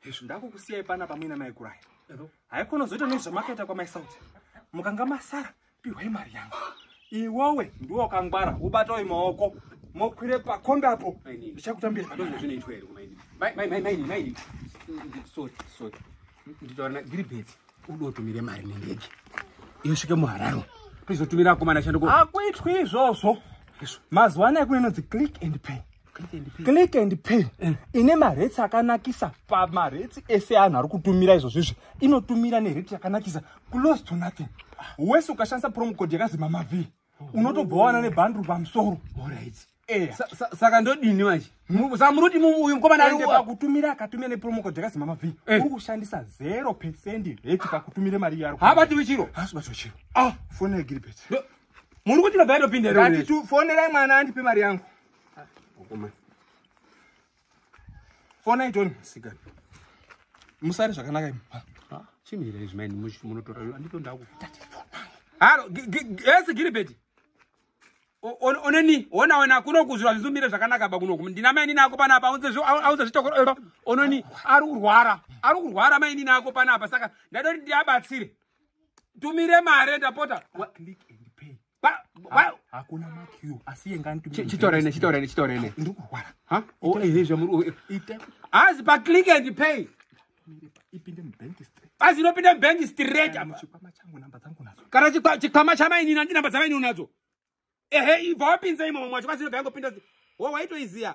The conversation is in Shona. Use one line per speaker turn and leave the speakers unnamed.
hezvo ndakukusiyai panapa muina mai kuraya haikona zoita nezvamakaita kwamaisauti mukanga masara pihwai mari yangu iwowe ndiwo wakangwara ubatawo imaoko mokwire pakombe apo ndichakutambira
nditaura ndiri bedzi udotumire mari nendege yosvike muhararo tizotumira akomana shanduko akuitwi izvozvo
mazuva ano ekunenonzi click and pay click and pay eh. ine maretsi akanakisa pamaretsi ese anhu ari kutumira izvozvizvi inotumira nereti yakanakisa close to nothing wese ukashandisa promocode yakazima mavhiri unotobva wana nebhandru pamusoro eh.
saka ndodini manje samuruti uyu mukomanakutumira
akatumira nepromocode yakazima mavhiri eh. uri kushandisa zero percent reti pakutumira mari yaro habatiwi chiro hasi batiwa
chiro ah.
fone yagiribet muri kuti
nobva yatopinda ratifonerai
mwana andipe mari yangu fona itoni sikana musari zvakanaka imba chimira
izvi maini munotora andito ndakutati haro ese giribeti ononi ona wena kuno kuzvira zvizumire zvakanaka ba kunoku ndina mai nini ako panapa aunze zvitokoro ononi ari kurwara ari kurwara mai nini ako panapa saka ndadoti ndiabatsire tumire mare ndapota
hakuna makiu asiye nganichitorene chitorene chitorene
ndiri kurwara hazi paclick and pay ipinde
mubank straight asi inopinda mubank
straight apa chikwama changu namba
dzangu nadzo kana chikwama
chamainini andi namba dzamainini nadzo ehe ibva wapinza imomo mwacho kwasi inobva yangopinda wo waitoiziya